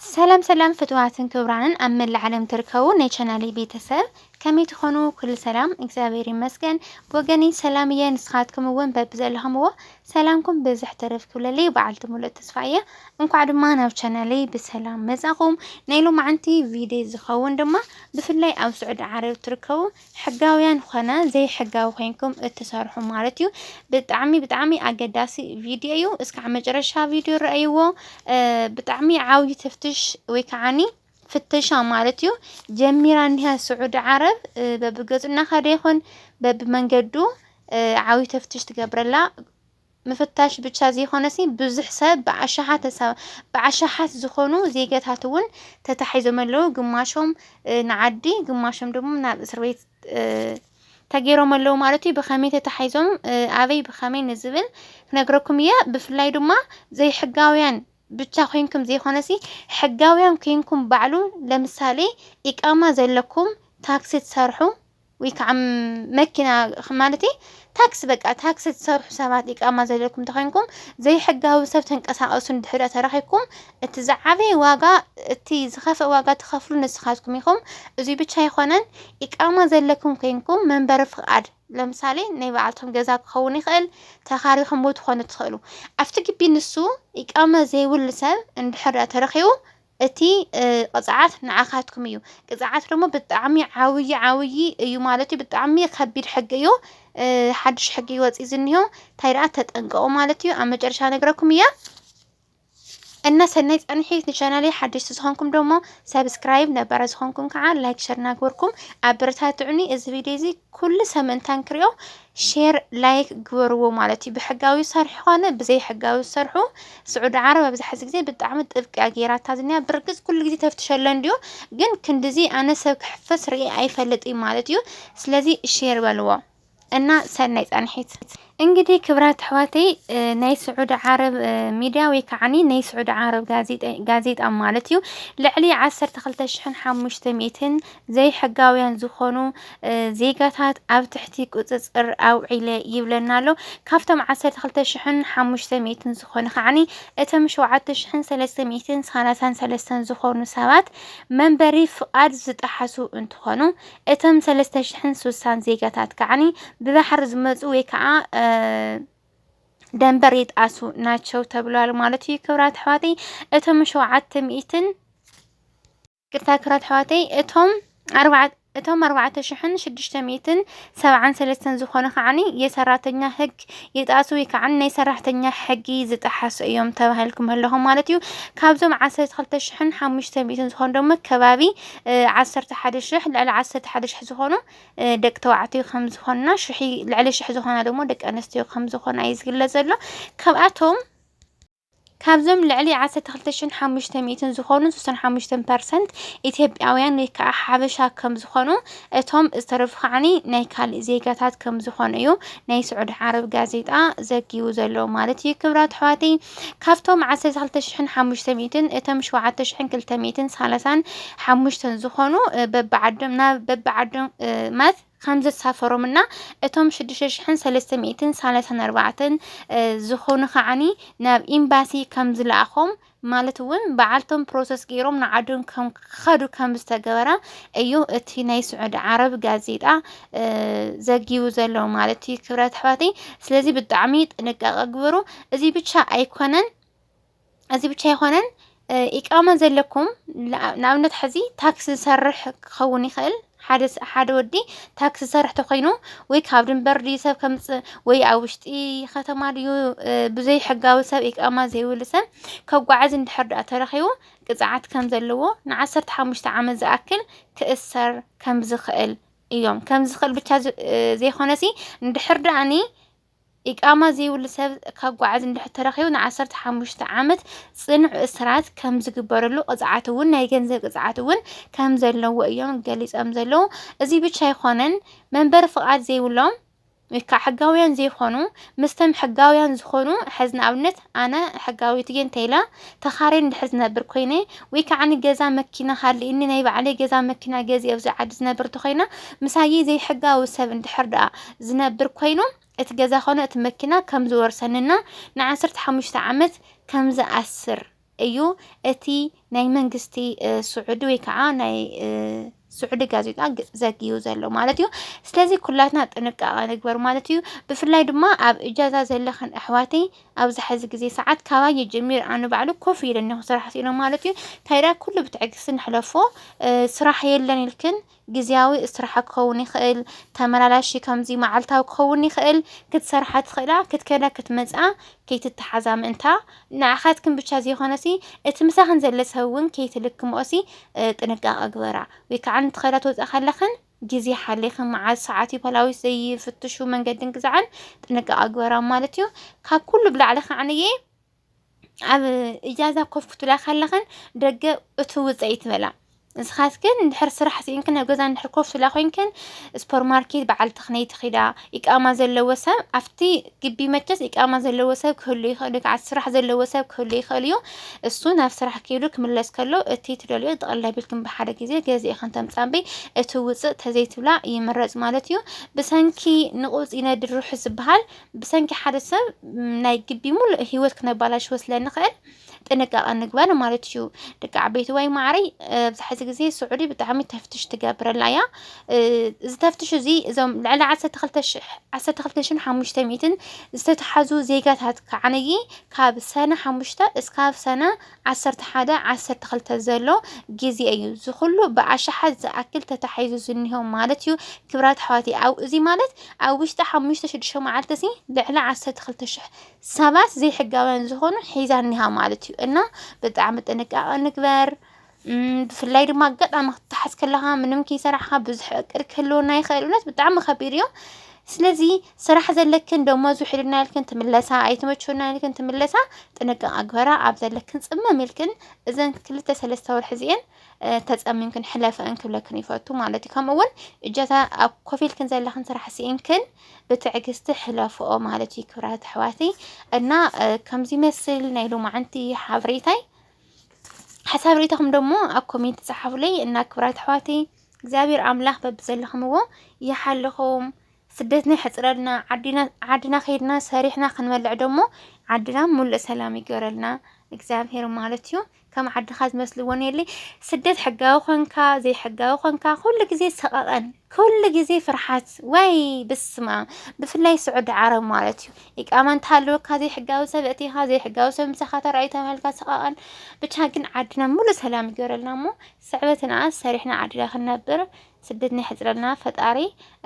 ሰላም ሰላም ፍትዋትን ክብራንን ኣብ መላእ ዓለም ትርከቡ ናይ ቻናሌ ቤተሰብ ከመይ ትኾኑ? ኩሉ ሰላም እግዚኣብሔር ይመስገን ብወገኒ ሰላም እየ። ንስኻትኩም እውን በብዘለኹምዎ ሰላምኩም ብዝሕ ትርፍ ክብለለይ በዓልቲ ሙሉእ ተስፋ እየ። እንኳዕ ድማ ናብ ቻናሌ ብሰላም መጻኹም። ናይ ሎማዓንቲ ቪድዮ ዝኸውን ድማ ብፍላይ ኣብ ስዑዲ ዓረብ ትርከቡ ሕጋውያን ኾነ ዘይሕጋዊ ኮይንኩም እትሰርሑ ማለት እዩ። ብጣዕሚ ብጣዕሚ ኣገዳሲ ቪድዮ እዩ። እስካዕ መጨረሻ ቪድዮ ረኣይዎ። ብጣዕሚ ዓብዩ ተፍትሽ ወይ ከዓኒ ፍተሻ ማለት እዩ ጀሚራ እኒሃ ስዑዲ ዓረብ በብገጹ እናኸደ ይኹን በብመንገዱ ዓብዩ ተፍትሽ ትገብረላ ምፍታሽ ብቻ ዘይኮነሲ ብዙሕ ሰብ ብኣሻሓት ብኣሻሓት ዝኾኑ ዜገታት እውን ተታሒዞም ኣለው። ግማሾም ንዓዲ ግማሾም ደሞ ናብ እስር ቤት ተገይሮም ኣለው ማለት እዩ። ብኸመይ ተታሒዞም ኣበይ ብኸመይ ንዝብል ክነግረኩም እየ። ብፍላይ ድማ ዘይሕጋውያን ብቻ ኮይንኩም ዘይኮነሲ ሕጋውያን ኮይንኩም ባዕሉ ለምሳሌ ኢቃማ ዘለኩም ታክሲ ትሰርሑ ወይ ከዓ መኪና ማለተይ ታክሲ በቃ ታክሲ ትሰርሑ ሰባት ኢቃማ ዘለኩም ተኮይንኩም ዘይሕጋዊ ሰብ ተንቀሳቀሱ እንድሕር ተረኪብኩም እቲ ዝዓበየ ዋጋ እቲ ዝኸፍእ ዋጋ ትኸፍሉ ንስኻትኩም ኢኹም። እዙይ ብቻ ኣይኮነን ኢቃማ ዘለኩም ኮይንኩም መንበሪ ፍቃድ ለምሳሌ ናይ በዓልቶም ገዛ ክኸውን ይኽእል ተኻሪኹም ትኾኑ ትኽእሉ ኣብቲ ግቢ ንሱ ኢቃማ ዘይብሉ ሰብ እንድሕር ተረኪቡ እቲ ቕፅዓት ንዓኻትኩም እዩ። ቅፅዓት ደሞ ብጣዕሚ ዓብዪ ዓብዪ እዩ ማለት እዩ። ብጣዕሚ ከቢድ ሕጊ እዩ። ሓድሽ ሕጊ እዩ ወፂኡ ዝኒሆ። እንታይ ደኣ ተጠንቀቑ ማለት እዩ። ኣብ መጨረሻ ነግረኩም እየ። እና ሰናይ ፃንሒት ንቻናለይ ሓደሽቲ ዝኾንኩም ደሞ ሰብስክራይብ ነባራት ዝኾንኩም ከዓ ላይክ ሸር እናገበርኩም ኣበረታትዑኒ እዚ ቪድዮ እዚ ኩሉ ሰመንታ ንክሪኦ ሼር ላይክ ግበርዎ ማለት እዩ ብሕጋዊ ዝሰርሑ ኮነ ብዘይ ሕጋዊ ዝሰርሑ ስዑዲ ዓረብ ኣብዚ ሕዚ ግዜ ብጣዕሚ ጥብቂ እያ ጌራታ ዝኒያ ብርግጽ ኩሉ ግዜ ተፍትሸሎ እንድዩ ግን ክንድዚ ኣነ ሰብ ክሕፈስ ርኢ ኣይፈልጥ እዩ ማለት እዩ ስለዚ ሼር በልዎ እና ሰናይ ጻንሒት እንግዲህ ክብራት ኣሕዋተይ ናይ ስዑዲ ዓረብ ሚድያ ወይ ከዓኒ ናይ ስዑዲ ዓረብ ጋዜጣ ማለት እዩ ልዕሊ 12500 ዘይሕጋውያን ዝኾኑ ዜጋታት ኣብ ትሕቲ ቁፅፅር ኣውዒለ ይብለና ኣሎ ካብቶም 12500 ዝኾኑ ከዓኒ እቶም 7333 ዝኾኑ ሰባት መንበሪ ፍቓድ ዝጠሓሱ እንትኾኑ እቶም ሰለስተ ሽሕን ሱሳን ዜጋታት ከዓኒ ብባሕሪ ዝመፁ ወይ ከዓ ደንበር ይጣሱ ናቸው ተብሏል ማለት እዩ። ክብራት ኣሕዋተይ እቶም ሸውዓተ ሚእትን ቅርታ ክብራት ኣሕዋተይ እቶም ኣርባዕተ እቶም ኣርባዕተ ሽሕን ሽዱሽተ ሚእትን ሰብዓን ሰለስተን ዝኾኑ ከዓኒ የሰራተኛ ህግ ይጣሱ ወይ ከዓኒ ናይ ሰራሕተኛ ሕጊ ዝጠሓሱ እዮም ተባሂልኩም ኣለኹም ማለት እዩ። ካብዞም ዓሰርተ ክልተ ሽሕን ሓሙሽተ ሚእትን ዝኾኑ ደሞ ከባቢ ዓሰርተ ሓደ ሽሕ፣ ልዕሊ ዓሰርተ ሓደ ሽሕ ዝኾኑ ደቂ ተባዕትዮ ከም ዝኾንና፣ ሽሒ ልዕሊ ሽሕ ዝኾና ደሞ ደቂ ኣንስትዮ ከም ዝኾና እዩ ዝግለጽ ዘሎ። ካብኣቶም ካብዞም ልዕሊ ዓሰርተ ክልተ ሽሕን ሓሙሽተ ሚእትን ዝኾኑ ስሳን ሓሙሽተን ፐርሰንት ኢትዮጵያውያን ወይ ከዓ ሓበሻ ከም ዝኾኑ እቶም ዝተረፉ ከዓኒ ናይ ካልእ ዜጋታት ከም ዝኾኑ እዩ ናይ ስዑዲ ዓረብ ጋዜጣ ዘጊቡ ዘሎ ማለት እዩ። ክብራት ኣሕዋተይ ካብቶም ዓሰርተ ክልተ ሽሕን ሓሙሽተ ሚእትን እቶም ሸውዓተ ሽሕን ክልተ ሚእትን ሳላሳን ሓሙሽተን ዝኾኑ በብዓዶም ናብ በብዓዶም ማለት ከም ዘሳፈሮም እና እቶም ሽዱሽተ ሽሕን ሰለስተ ሚእትን ሳላሳን ኣርባዕተን ዝኾኑ ከዓኒ ናብ ኤምባሲ ከም ዝለኣኾም ማለት እውን በዓልቶም ፕሮሰስ ገይሮም ንዓዶም ከም ክኸዱ ከም ዝተገበራ እዩ እቲ ናይ ስዑዲ ዓረብ ጋዜጣ ዘጊቡ ዘሎ ማለት እዩ ክብረት ኣሕዋተይ። ስለዚ ብጣዕሚ ጥንቃቐ ግበሩ። እዚ ብቻ ኣይኮነን እዚ ብቻ ኣይኮነን ኢቃማ ዘለኩም ንኣብነት ሕዚ ታክሲ ዝሰርሕ ክኸውን ይኽእል ሓደ ሓደ ወዲ ታክሲ ዝሰርሕ ተኮይኑ ወይ ካብ ድንበር ድዩ ሰብ ከምፅእ ወይ ኣብ ውሽጢ ከተማ ድዩ ብዘይ ሕጋዊ ሰብ ኢቃማ ዘይብሉ ሰብ ከጓዓዝ እንድሕር ድኣ ተረኺቡ ቅፅዓት ከም ዘለዎ ንዓሰርተ ሓሙሽተ ዓመት ዝኣክል ክእሰር ከም ዝኽእል እዮም ከም ዝኽእል ብቻ ዘይኮነሲ ንድሕር ዳኣኒ ኢቃማ ዘይብሉ ሰብ ካጓዓዝ እንድሕር ተረኺቡ ንዓሰርተ ሓሙሽተ ዓመት ፅኑዕ እስራት ከም ዝግበረሉ ቅፅዓት እውን ናይ ገንዘብ ቅፅዓት እውን ከም ዘለዎ እዮም ገሊፆም ዘለዉ እዚ ብቻ ኣይኮነን መንበሪ ፍቃድ ዘይብሎም ወይከዓ ሕጋውያን ዘይኮኑ ምስተም ሕጋውያን ዝኾኑ ሕዝ ንኣብነት ኣነ ሕጋዊት እየ እንተይለ ተኻሬ እንድሕር ዝነብር ኮይነ ወይ ከዓ ገዛ መኪና ሃልእኒ ናይ ባዕለይ ገዛ መኪና ገዚ ኣብዚ ዓዲ ዝነብር እንተኾይነ ምሳየይ ዘይሕጋዊ ሰብ እንድሕር ደኣ ዝነብር ኮይኑ እቲ ገዛ ኮነ እቲ መኪና ከም ዝወርሰንና ንዓሰርተ ሓሙሽተ ዓመት ከም ዝኣስር እዩ እቲ ናይ መንግስቲ ስዑዲ ወይ ከዓ ናይ ስዑዲ ጋዜጣ ዘግዩ ዘሎ ማለት እዩ ስለዚ ኩላትና ጥንቃቐ ንግበር ማለት እዩ ብፍላይ ድማ ኣብ እጃዛ ዘለኽን ኣሕዋተይ ኣብዚ ሕዚ ግዜ ሰዓት ካባየ ጀሚር ኣነ ባዕሉ ኮፍ ኢለ እኒኹ ስራሕ ስኢኖ ማለት እዩ ታይዳ ኩሉ ብትዕግስቲ ንሕለፎ ስራሕ የለን ኢልክን ግዝያዊ እስራሓ ክኸውን ይኽእል፣ ተመላላሺ ከምዚ መዓልታዊ ክኸውን ይኽእል፣ ክትሰርሓ ትኽእላ ክትከዳ ክትመጽኣ ከይትተሓዛ ምእንታ ንዓኻትክን ብቻ ዘይኮነሲ እቲ ምሳኽን ዘለ ሰብ ውን ከይትልክምኦሲ ጥንቃቐ ግበራ፣ ወይ ካዓ ንትኸዳ ትወጻ ከለኽን ግዜ ሓሊኽን መዓዝ ሰዓት ዩ ፓላዊስ ዘይፍትሹ መንገድን ግዛዕን ጥንቃቐ ግበራ ማለት ዩ፣ ካብ ኩሉ ብላዕሊ ካዓንየ። ኣብ እጃዛ ኮፍ ክትብላ ከለኽን ደገ እቲ ውፀኢ ትበላ ንስኻትክን እንድሕር ስራሕ ስኢንክን ኣብ ገዛ እንድሕር ኮፍ ትብላ ኮይንክን ስፖር ማርኬት በዓል ተኽነይ ትኺዳ ኢቃማ ዘለዎ ሰብ ኣብቲ ግቢ መቸስ ኢቃማ ዘለዎ ሰብ ክህሉ ይኽእል እዩ ከዓ ስራሕ ዘለዎ ሰብ ክህሉ ይኽእል እዩ እሱ ናብ ስራሕ ክይሉ ክምለስ ከሎ እቲ ትደልዮ ጠቕላይ ቢልክን ብሓደ ግዜ ገዚእኽን ተምፃቢ እቲ ውፅእ ተዘይትብላ ይምረፅ ማለት እዩ ብሰንኪ ንቑፅ ይነድር ርሑስ ዝበሃል ብሰንኪ ሓደ ሰብ ናይ ግዲ ሙሉእ ሂወት ክነባላሽዎ ስለ ንክእል ጥንቃቀ ንግበር ማለት እዩ ደቂ ዓበይትዋይ ማዕረይ ኣብዚ ሕዚ ግዜ ስዑዲ ብጣዕሚ ተፍትሽ ትገብረላ እያ እዚ ተፍትሽ እዚ እዞም ልዕሊ ዓሰርተ ክልተ ሽሕ ዓሰርተ ክልተ ሽሕን ሓሙሽተ ሚእትን ዝተትሓዙ ዜጋታት ከዓነይ ካብ ሰነ ሓሙሽተ እስካብ ሰነ ዓሰርተ ሓደ ዓሰርተ ክልተ ዘሎ ግዜ እዩ እዚ ኩሉ ብኣሽሓት ዝኣክል ተታሒዙ ዝኒሆ ማለት እዩ ክብራት ኣሕዋተይ ኣብ እዚ ማለት ኣብ ውሽጢ ሓሙሽተ ሽዱሽተ መዓልቲ ሲ ልዕሊ ዓሰርተ ክልተ ሽሕ ሰባት ዘይሕጋውያን ዝኾኑ ሒዛ እኒሃ ማለት እዩ እና ብጣዕሚ ጥንቃቐ ንግበር ብፍላይ ድማ ኣጋጣሚ ክትሓዝ ከለኻ ምንም ከይሰራሕኻ ብዙሕ እቅድ ክህልወና ይኽእል እውነት ብጣዕሚ ከቢድ እዩ ስለዚ ስራሕ ዘለክን ደሞዝ ውሕድና ኢልክን ትምለሳ ኣይተመቸወና ኢልክን ትምለሳ ጥንቃቐ ግበራ ኣብ ዘለክን ጽመም ኢልክን እዘን ክልተ ሰለስተ ወርሒ እዚኤን ተጸሚምክን ሕለፈን ክብለክን ይፈቱ ማለት እዩ ከምኡ እውን እጀታ ኣብ ኮፍ ኢልክን ዘለኽን ስራሕ ስኢንክን ብትዕግስቲ ሕለፍኦ ማለት እዩ ክብራት ኣሕዋተይ እና ከምዚ መስል ናይ ሎማዓንቲ ሓበሬታይ ሓሳብ ሬታኹም ደሞ ኣብ ኮሜንት ጸሓፉለይ እና ክብራት ኣሕዋተይ እግዚኣብሔር ኣምላኽ በብዘለኹምዎ ይሓልኹም። ስደትና ይሕፅረልና ዓዲና ዓድና ከይድና ሰሪሕና ክንበልዕ ደሞ ዓድና ሙሉእ ሰላም ይገረልና እግዚኣብሔር ማለት እዩ። ከም ዓድኻ ዝመስልዎ የለይ። ስደት ሕጋዊ ኮንካ ዘይሕጋዊ ኮንካ ኩሉ ግዜ ሰቐቐን፣ ኩሉ ግዜ ፍርሓት ወይ ብስማ ብፍላይ ስዑዲ ዓረብ ማለት እዩ። ኢቃማ እንተሃለወካ ዘይሕጋዊ ሰብ እቲኻ ዘይሕጋዊ ሰብ ምሳኻ ተራእዩ ተባሂልካ ሰቐቐን። ብቻ ግን ዓድና ሙሉእ ሰላም ይገረልና እሞ ስዕበትና ሰሪሕና ዓድና ክንነብር ስደትና የሕፅረልና ፈጣሪ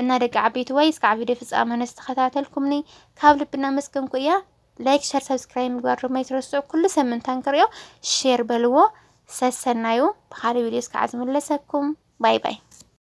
እና ደቂ ዓበይትዋይ እስካዕ ቪድዮ ፍፃመ ንዝተኸታተልኩምኒ ካብ ልቢ እናመስገንኩ እያ ላይክ ሸር ሰብስክራይብ ምግባር ድማ ይትረስዑ ኩሉ ሰብ ምንታን ክሪኦ ሼር በልዎ ሰሰናዩ ብካልእ ቪድዮ እስካዕ ዝምለሰኩም ባይ ባይ